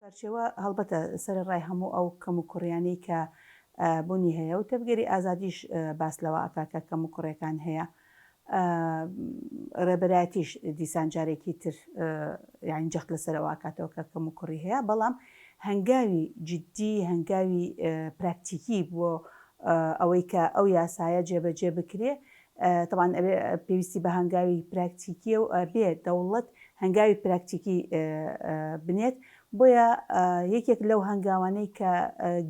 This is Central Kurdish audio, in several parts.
سەرچەوە، هەڵبەتە سەرەڕای هەموو ئەو کەموکوڕیانەی کە بونی هەیە و تەڤگەری ئازادیش باس لەوە ئەکا کە کەموکوڕێکان هەیە ڕێبەرایەتیش دیسان جارێکی تر یانی جەخت لەسەر ئەوە ئەکاتەوە کە کەموکوڕی هەیە بەڵام هەنگاوی جدی هەنگاوی پراکتیکی بۆ ئەوەی کە ئەو یاسایە جێبەجێ بکرێ تەبعەن ئەبێ پێویستی بە هەنگاوی پراکتیکیە و ئەبێ دەوڵەت هەنگاوی پراکتیکی بنێت بۆیە یەکێک لەو هەنگاوانەی کە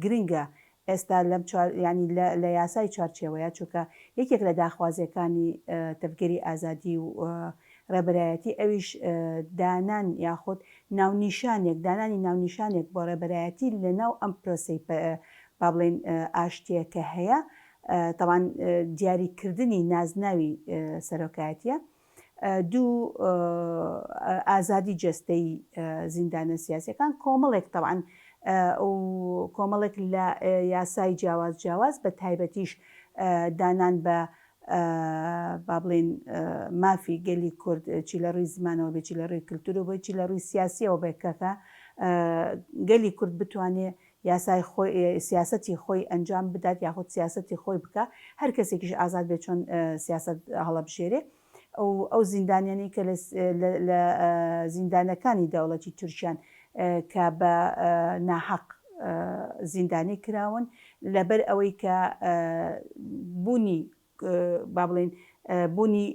گرنگە ئێستا لەم ینی لە یاسای چوارچێوەیە چونکە یەکێک لە داخوازیەکانی تەفگەری ئازادی و ڕێبەرایەتی ئەویش دانان یاخود ناونیشانێک دانانی ناونیشانێک بۆ ڕێبەرایەتی لە ناو ئەم پرۆسی با بڵێن ئاشتیە کە هەیە تەبان دیاری کردنی نازناوی سەرۆکایەتیە. دوو ئازادی جەستەی زیندانە سیاسەکان کۆمەڵێک تەبان کۆمەڵێک لە یاسای جیاواز جیاواز بە تایبەتیش دانان بە با بڵێن مافی گەلی کورد چی لە ڕووی زمانەوە بێ چی لە ڕووی کللتور و بۆی چی لە ڕووی سیاسیەوە بێکەکە گەلی کورد بتوانێت یاسای خۆی سیاسەتی خۆی ئەنجام بدات یاخود سیاسەتی خۆی بکا هەر کەسێکیش ئازاد بێ چۆن سیاسەت هەڵەبژێرێ ئەو ئەو زیندانیانی کە لە لە زیندانەکانی دەوڵەتی تورکیان کە بە ناحەق زیندانی کراون لەبەر ئەوەی کە بوونی با بڵێین بوونی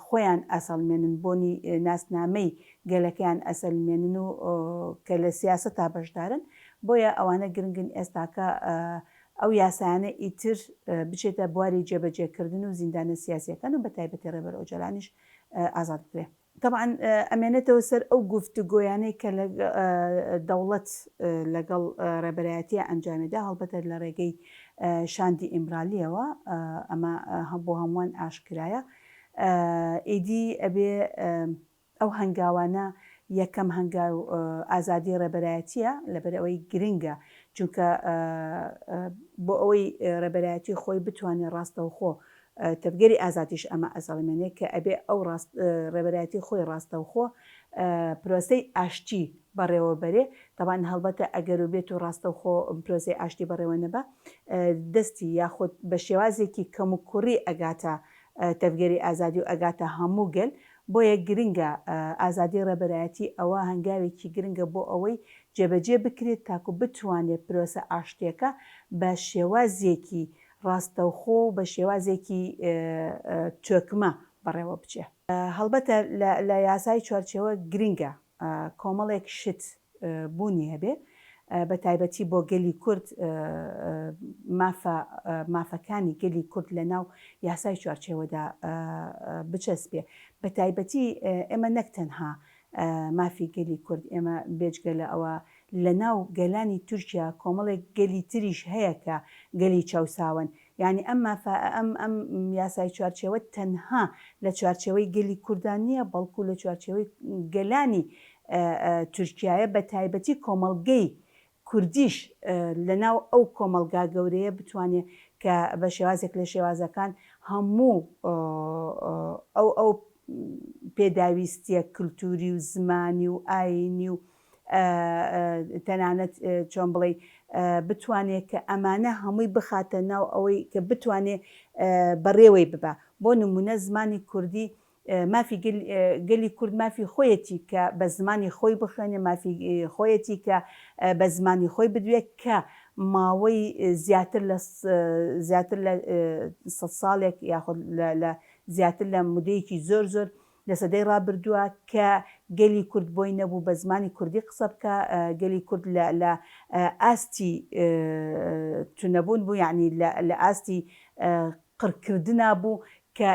خۆیان ئەسەلمێنن، بۆنی ناسنامەی گەلەکەیان ئەسەلمێنن و کە لە سیاسەتا بەشدارن، بۆیە ئەوانە گرنگن ئێستاکە ئەو یاسایانە ئیتر بچێتە بواری جێبەجێکردن و زیندانە سیاسیەکان و بە تایبەتی ڕێبەر ئۆجەلانیش ئازاد بکرێ. تەبعەن ئەمێنێتەوە سەر ئەو گوفتوگۆیانەی کە دەوڵەت لەگەڵ ڕێبەرایەتیە ئەنجامیدا، هەڵبەتە لە ڕێگەی شاندی ئیمرالیەوە، ئەمە بۆ هەمووان ئاشکرایە. ئیدی ئەبێ ئەو هەنگاوانە، یەکەم هەنگاو ئازادی ڕێبەرایەتیە، لەبەر ئەوەی گرنگە، چونکە بۆ ئەوەی ڕێبەرایەتی خۆی بتوانێ ڕاستەوخۆ تەڤگەری ئازادیش ئەمە ئەسەڵمێنێ کە ئەبێ ئەو ڕێبەرایەتی خۆی ڕاستەوخۆ پرۆسەی ئاشتی بەڕێوە بەرێ، تەبان هەڵبەتە ئەگەر و بێت و ڕاستەوخۆ پرۆسەی ئاشتی بەڕێوە نەبا دەستی یاخود بە شێوازێکی کەموکوڕی ئەگاتە تەڤگەری ئازادی و ئەگاتە هەموو گەل، بۆیە گرنگە ئازادی ڕێبەرایەتی ئەوە هەنگاوێکی گرنگە بۆ ئەوەی جێبەجێ بکرێ تاکو بتوانێ پرۆسە ئاشتیەکە بە شێوازێکی ڕاستەوخۆ و بە شێوازێکی تۆکمە بەڕێوە بچێ. هەڵبەتە لە یاسای چوارچێوە گرنگە کۆمەڵێک شت بوونی هەبێ بە تایبەتی بۆ گەلی کورد مافە مافەکانی گەلی کورد لە ناو یاسای چوارچێوەدا بچەسپێ بە تایبەتی ئێمە نەک تەنها مافی گەلی کورد ئێمە بێجگە لە ئەوە لە ناو گەلانی تورکیا کۆمەڵێک گەلی تریش هەیە کە گەلی چەوساوەن. یانی ئەم مافە ئەم ئەم یاسای چوارچێوە تەنها لە چوارچێوەی گەلی کوردا نییە بەڵکو لە چوارچێوەی گەلانی تورکیایە بە تایبەتی کۆمەڵگەی کوردیش لە ناو ئەو کۆمەڵگا گەورەیە بتوانێ کە بە شێوازێک لە شێوازەکان هەموو ئەو ئەو پێداویستییە کلتوری و زمانی و ئایینی و تەنانەت چۆن بڵێی بتوانێ کە ئەمانە هەمووی بخاتە ناو ئەوەی کە بتوانێ بەڕێوەی ببا بۆ نمونە زمانی کوردی مافی گەلی کورد مافی خۆیەتی کە بە زمانی خۆی بخوێنێ مافی خۆیەتی کە بە زمانی خۆی بدوێ کە ماوەی زیاتر لە زیاتر لە سە ساڵێک یاخود لە زیاتر لە مدەیەکی زۆر زۆر لە سەدەی ڕابردووە کە گەلی کورد بۆی نەبوو بە زمانی کوردی قسە بکا، گەلی کورد لە لە ئاستی چ نەبوون بوو، یەعنی لە لە ئاستی قڕ کردنا بوو کە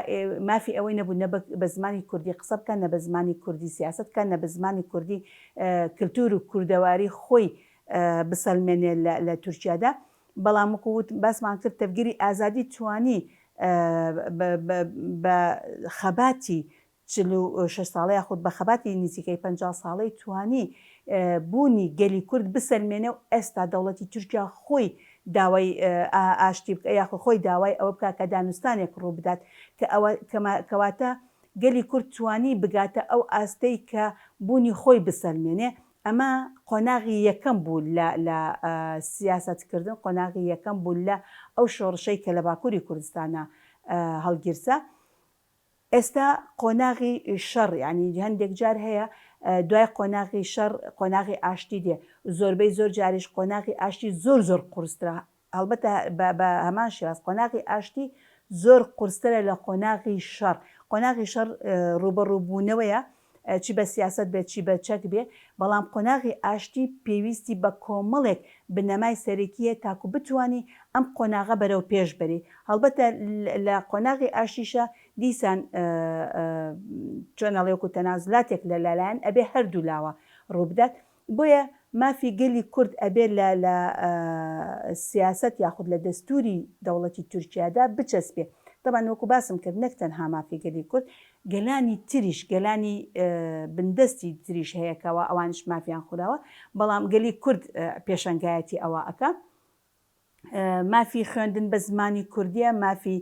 مافی ئەوەی نەبوو نە بە زمانی کوردی قسە بکا، نە بە زمانی کوردی سیاسەت بکا، نە بە زمانی کوردی کلتوور و کوردەواری خۆی بسەلمێنێ لە لە تورکیادا. بەڵام وەکو وتم باسمان کرد تەڤگەری ئازادی توانی بە خەباتی چل و شەش ساڵە یاخود بە خەباتی نزیکەی پەنجا ساڵەی توانی بوونی گەلی کورد بسەلمێنێ و ئێستا دەوڵەتی تورکیا خۆی داوای ئاشتی بکە یاخود خۆی داوای ئەوە بکا کە دانوستانێک ڕوو بدات کە ئەوە کەواتە گەلی کورد توانی بگاتە ئەو ئاستەی کە بوونی خۆی بسەلمێنێ ئەمە قۆناغی یەکەم بوو لە لە سیاسەت کردن، قۆناغی یەکەم بوو لە ئەو شۆڕشەی کە لە باکووری کوردستانا هەڵگیرسا. ئێستا قۆناغی شەڕ، یانی هەندێک جار هەیە دوای قۆناغی شەڕ قۆناغی ئاشتی دێ، زۆربەی زۆر جاریش قۆناغی ئاشتی زۆر زۆر قورسترە هەڵبەتە بە بە هەمان شێواز قۆناغی ئاشتی زۆر قورسترە لە قۆناغی شەڕ، قۆناغی شەڕ ڕووبەڕوو بوونەوەیە چی بە سیاسەت بێت چی بە چەک بێ، بەڵام قۆناغی ئاشتی پێویستی بە کۆمەڵێک بنەمای سەرەکی هەیە تاکوو بتوانی ئەم قۆناغە بەرەو پێش بەری، هەڵبەتە لە قۆناغی ئاشتیشا دیسان چۆن ئەڵێ وەکوو تەنازولاتێک لە لە لایەن ئەبێ هەردوو لاوە ڕوو بدات، بۆیە مافی گەلی کورد ئەبێ لە لە سیاسەت یاخود لە دەستوری دەوڵەتی تورکیادا بچەسپێ. تەبعەن وەکو باسم کرد نەک تەنها مافی گەلی کورد، گەلانی تریش، گەلانی بندەستی تریش هەیە کەوا ئەوانیش مافیان خوراوە، بەڵام گەلی کورد پێشەنگایەتی ئەوە ئەکا. مافی خوێندن بە زمانی کوردیە مافی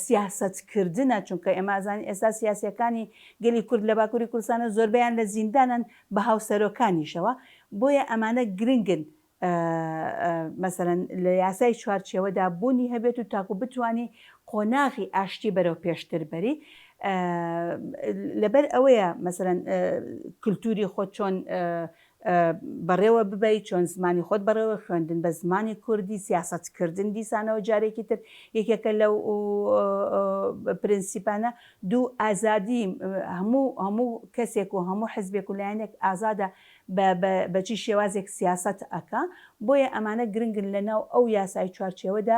سیاسەت کردنە چونکە ئێمە ئەزانین ئێستا سیاسەکانی گەلی کورد لە باکووری کوردستانە زۆربیان لە زیندانن بە هاوسەرۆکانیشەوە بۆیە ئەمانە گرنگن مەسەرەن لە یاسای چوارچەوەدا بوونی هەبێت و تاکو بتانی قۆناغی ئاشتی بەرەو پێشتر بەری لەبەر ئەوەیە مەسەرەن کللتوری خۆ چۆن بەڕێوە ببەیت، چۆن زمانی خۆت بەڕێوە خوێندن بە زمانی کوردی، سیاسەت کردن دیسانەوە جارێکی تر یەکێکە لەو پرنسیپانە، دوو ئازادی هەموو هەموو کەسێک و هەموو حزبێک و لایەنێک ئازادە بە بە بە چی شێوازێک سیاسەت ئەکا، بۆیە ئەمانە گرنگن لە ناو ئەو یاسای چوارچێوەدا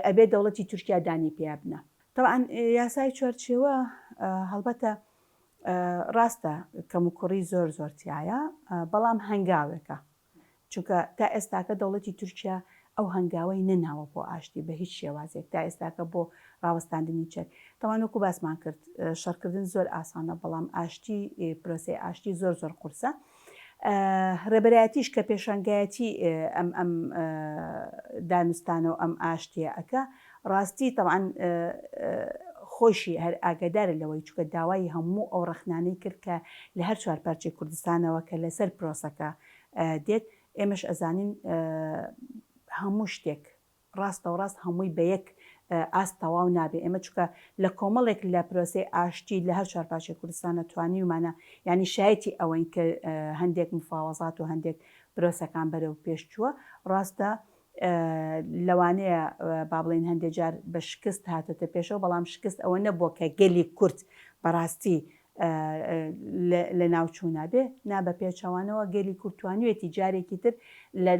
ئەبێ دەوڵەتی تورکیا دانی پیا بنا. تەبعەن یاسای چوارچێوە هەڵبەتە ڕاستە کەموکوڕی زۆر زۆر تیایە بەڵام هەنگاوێکە چونکە تا ئێستاکە دەوڵەتی تورکیا ئەو هەنگاوەی نەناوە بۆ ئاشتی بە هیچ شێوازێک تا ئێستاکە بۆ ڕاوەستاندنی چەک تاوان وەکو باسمان کرد شەڕکردن زۆر ئاسانە بەڵام ئاشتی پرۆسەی ئاشتی زۆر زۆر قورسە رێبەرایەتیش کە پێشانگایەتی ئەم ئەم دانوستانەو ئەم ئاشتیە ئەکا راستی تەبعەن خۆیشی هەر ئاگەدارە لەوەی چوکە داوای هەموو ئەو رەخنانەی کرد کە لە هەر چوار پارچەی کوردستانەوە کە لەسەر پرۆسەکە دێت ئێمەش ئەزانین هەموو شتێک ڕاستەوڕاست هەمووی بە یەک ئاست تەواو نابێ ئێمە چونکە لە کۆمەڵێک لە پرۆسەی ئاشتی لە هەر چوار پارچەی کوردستانە توانیومانە یانی شایەتی ئەوەین کە هەندێک مفاوەزات و هەندێک پرۆسەکان بەرەو پێش چووە ڕاستە لەوانەیە با بڵێن هەندێک جار بە شکست هاتۆتە پێشەوە بەڵام شکست ئەوە نەبووە کە گەلی کورد بەڕاستی لە ناو چوونە بێ نا بە پێچەوانەوە گەلی کورد توانوێتی جارێکی تر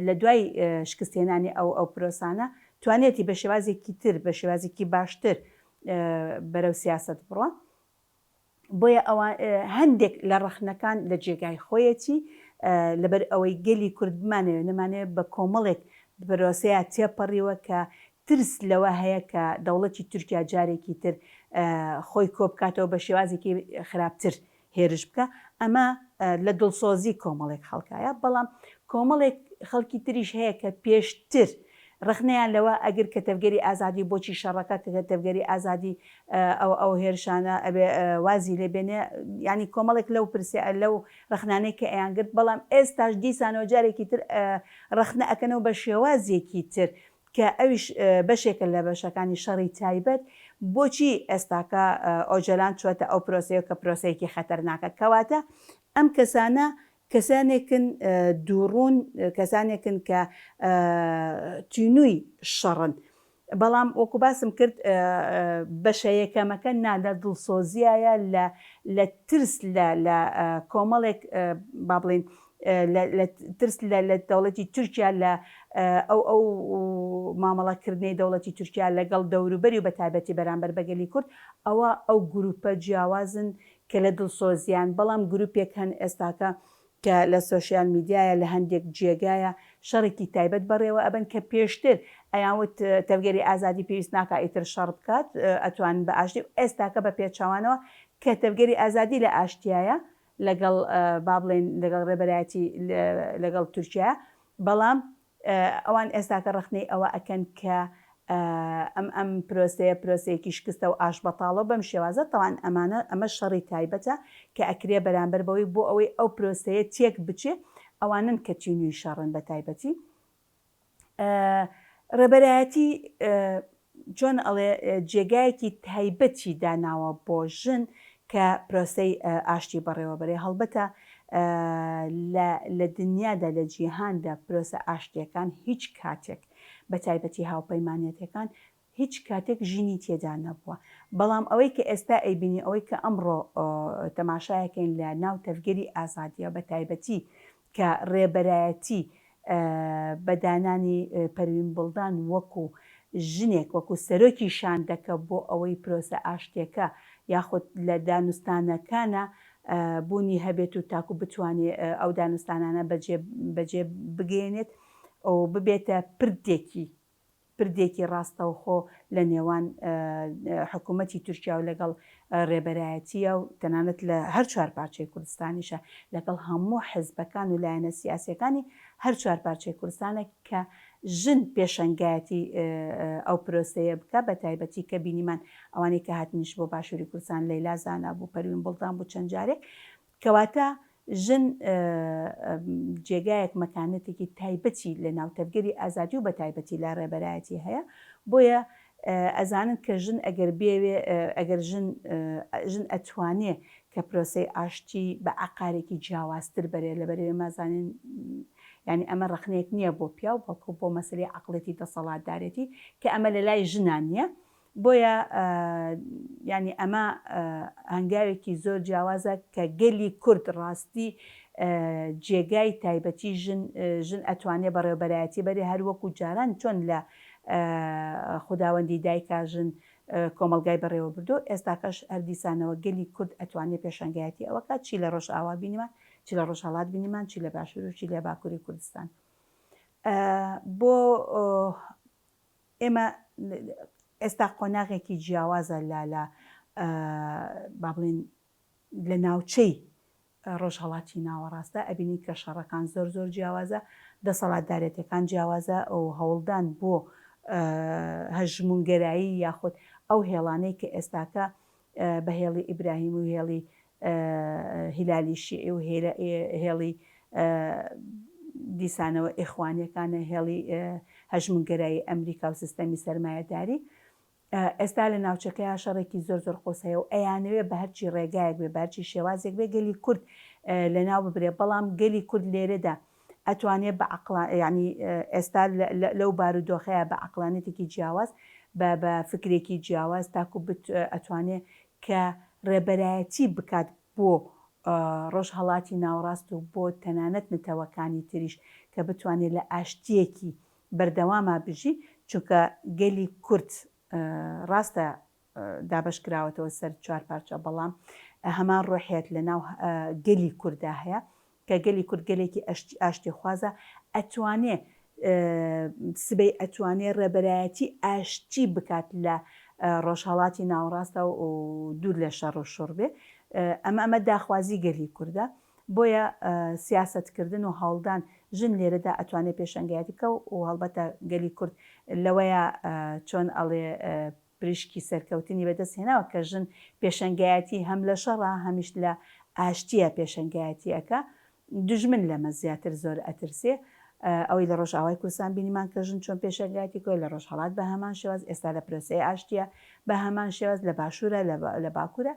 لە دوای شکستێنانی ئەو ئەو پرۆسانە توانێتی بە شێوازێکی تر بە شێوازێکی باشتر بەرەو سیاست بڕە بۆیە ئەوان هەندێک لە ڕەخنەکان لە جێگای خۆیەتی لەبەر ئەوەی گەلی کورد بمانەوێت نەمانێت بە کۆمەڵێک بەرۆسەیە تێپەڕیوە کە ترس لەوە هەیە کە دەوڵەتی تورکیا جارێکی تر خۆی کۆبکاتەوە بە شێوازێکی خراپتر هێرش بکا، ئەمە لە دڵسۆزی کۆمەڵێک خەڵکایە، بەڵام کۆمەڵێک خەڵکی تریش هەیە کە پێشتر ڕەخنەیان لەوە ئەگر کە تەڤگەری ئازادی بۆچی شەڕەکە کە تەڤگەری ئازادی ئەو ئەو هێرشانە ئەبێ وازی لێ بێنێ، یانی کۆمەڵێک لەو پرسیار لەو ڕەخنانەی کە ئەیان گرت، بەڵام ئێستاش دیسانەوە جارێکی تر ڕەخنە ئەکەنەوە بە شێوازێکی تر، کە ئەویش بەشێکە لە بەشەکانی شەڕی تایبەت، بۆچی ئێستاکە ئۆجەلان چووەتە ئەو پرۆسەیەوە کە پرۆسەیەکی خەتەرناکە؟ کەواتە ئەم کەسانە کەسانێکن دووڕوون، کەسانێکن کە تینووی شەڕن. بەڵام وەکو باسم کرد بەشە یەکەمەکە نا لە دڵسۆزیایە، لە ترس لە کۆمەڵێک با بڵێین لە ترس لە دەوڵەتی تورکیا لە ئەو ئەو مامەڵەکردنەی دەوڵەتی تورکیا لەگەڵ دەوروبەری و بە تایبەتی بەرامبەر بە گەلی کورد ئەوە ئەو گرووپە جیاوازن کە لە دڵسۆزییان بەڵام گرووپێک هەن ئێستاکە کە لە سۆشیال میدیایە لە هەندێک جێگایە شەڕێکی تایبەت بەڕێوە ئەبەن کە پێشتر ئەیان وت تەڤگەری ئازادی پێویست ناکا ئیتر شەڕ بکات ئەتوانن بە ئاشتی ئێستاکە بە پێچەوانەوە کە تەڤگەری ئازادی لە ئاشتیایە لەگەڵ با بڵێین لەگەڵ رێبەرایەتی لەگەڵ تورکیا بەڵام ئەوان ئێستاکە رەخنەی ئەوە ئەکەن کە ئەم ئەم پرۆسەیە پرۆسەیەکی شکستە و ئاشبەتاڵە و بەم شێوازە تاوان ئەمانە ئەمە شەڕی تایبەتە کە ئەکرێ بەرامبەر بەوەی بۆ ئەوەی ئەو پرۆسەیە تێک بچێ ئەوانن کە تینوی شەڕن بە تایبەتی ڕێبەرایەتی چۆن ئەڵێ جێگایەکی تایبەتی داناوە بۆ ژن کە پرۆسەی ئاشتی بەڕێوەبەرێ هەڵبەتە لە دنیادا لە جیهاندا پرۆسە ئاشتیەکان هیچ کاتێک بە تایبەتی هاوپەیمانەتەکان هیچ کاتێک ژنی تێدا نەبووە بەڵام ئەوەی کە ئێستا ئەیبینی ئەوەی کە ئەمڕۆ تەماشایەکەین لە ناو تەڤگەری ئازادیە بە تایبەتی کە ڕێبەرایەتی بە دانانی پەروین بوڵدان وەکو ژنێک وەکو سەرۆکی شاندەکە بۆ ئەوەی پرۆسە ئاشتیەکە یاخود لە دانوستانەکانا بوونی هەبێت و تاکو بتوانێ ئەو دانوستانانە بەجێ بەجێ بگەیەنێت و ببێتە پردێکی پردێکی ڕاستەوخۆ لە نێوان حکوومەتی تورکیا و لەگەڵ ڕێبەرایەتییە و تەنانەت لە هەر چوار پارچەی کوردستانیشە لەگەڵ هەموو حزبەکان و لایەنە سیاسییەکانی هەر چوار پارچەی کوردستانە کە ژن پێشەنگایەتی ئەو پرۆسەیە بکە بە تایبەتی کە بینیمان ئەوانەی کە هاتنیش بۆ باشووری کوردستان لەیلا زانا بوو پەروین بوڵدان بوو چەند جارێک کەواتە ژن جێگایەک مەکانەتێکی تایبەتی لە ناو تەڤگەری ئازادی و بەتایبەتی لە ڕێبەرایەتی هەیە بۆیە ئەزانن کە ژن ئەگەر بێوێ ئەگەر ژن ژن ئەتوانێ کە پرۆسەی ئاشتی بە ئاقارێکی جیاوازتر بەرێ لەبەر ئێمە زانین یعنی ئەمە ڕەخنێک نییە بۆ پیاو بەڵکو بۆ مەسلی عقلێتی دەسەڵاتدارێتی کە ئەمە لە لای ژنا نییە بۆیە یانی ئەمە هەنگاوێکی زۆر جیاوازە کە گەلی کورد ڕاستی جێگای تایبەتی ژن ژن ئەتوانێ بەڕێوبەرایەتی بەرێ هەر وەکو جاران چۆن لە خوداوەندی دایکا ژن کۆمەڵگای بەڕێوە بردو ئێستاکەش هەر دیسانەوە گەلی کورد ئەتوانێ پێشەنگایەتی ئەوەکە چی لە ڕۆژ ئاوا بینیمان چی لە ڕۆژهەڵات بینیمان چی لە باشوروشی لە باکووری کوردستان بۆ ئێمە ئێستا قۆناغێکی جیاوازە لە لە با بڵێن لە ناوچەی ڕۆژهەڵاتی ناوەڕاستدا ئەبینین کە شەڕەکان زۆر زۆر جیاوازە دەسەڵاتدارێتەکان جیاوازە ئەو هەوڵدان بۆ هەژمونگەرایی یاخود ئەو هێڵانەی کە ئێستاکە بە هێڵی ئیبراهیم و هێڵی هیلالی شیعی و هێڵی دیسانەوە ئیخوانیەکانە هێڵی هەژمونگەرایی ئەمریکا و سیستەمی سەرمایەداری ئێستا لە ناوچەکەیا شەڕێکی زۆر زۆر قۆس هەیە و ئەیانەوێ بە هەرچی ڕێگایەک بێ بەرچی شێوازێک بێ گەلی کورد لە ناو ببرێ بەڵام گەلی کورد لێرەدا ئەتوانێ بە عەقڵا یانی ئێستا لەو بارو دۆخەیا بە عەقڵانیەتێکی جیاواز بە بە فکرێکی جیاواز تاکو بت ئەتوانێ کە ڕێبەرایەتی بکات بۆ ڕۆژهەڵاتی ناوەڕاست و بۆ تەنانەت نەتەوەکانی تریش کە بتوانێ لە ئاشتیەکی بەردەواما بژی چونکە گەلی کورد ڕاستە دابەش کراوەتەوە سەر چوار پارچە بەڵام هەمان ڕۆحیەت لە ناو گەلی کورددا هەیە کە گەلی کورد گەلێکی ئەشتی ئاشتی خوازە ئەتوانێ سبەی ئەتوانێ ڕێبەرایەتی ئاشتی بکات لە ڕۆژهڵاتی ناوەڕاستە و دوور لە شەڕ و شڕ بێ ئەمە ئەمە داخوازی گەلی کووردە بۆیە سیاستکردن و هەوڵدان ژن لێرەدا ئەتوانێت پێشەنگایەتی بکە و هەڵبەتە گەلی کورد لەوەیە چۆن ئەڵێ پریشکی سەرکەوتنی بەدەست هێناوە کە ژن پێشەنگایەتی هەم لە شەڕە هەمیش لە ئاشتیە پێشەنگایەتی ئەکا دوژمن لەمە زیاتر زۆر ئەترسێ ئەوەی لە ڕۆژئاوای کوردستان بینیمان کە ژن چۆن پێشەنگایەتی کرد لە ڕۆژهەڵات بە هەمان شێواز ئێستا لە پرۆسەی ئاشتیە بە هەمان شێواز لە باشورە لە باکورە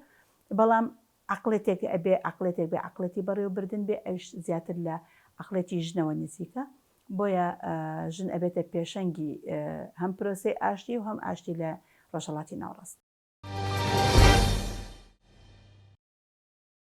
بەڵام عەقڵێتێک ئەبێ عەقڵێتێک بێ عەقڵێتی بەڕێوە بردن بێ ئەویش زیاتر لە عەقڵێتی ژنەوە نزیکە بۆیە ژن ئەبێتە پێشەنگی هەم پرۆسەی ئاشتی و هەم ئاشتی لە ڕۆژهەڵاتی ناوڕاست.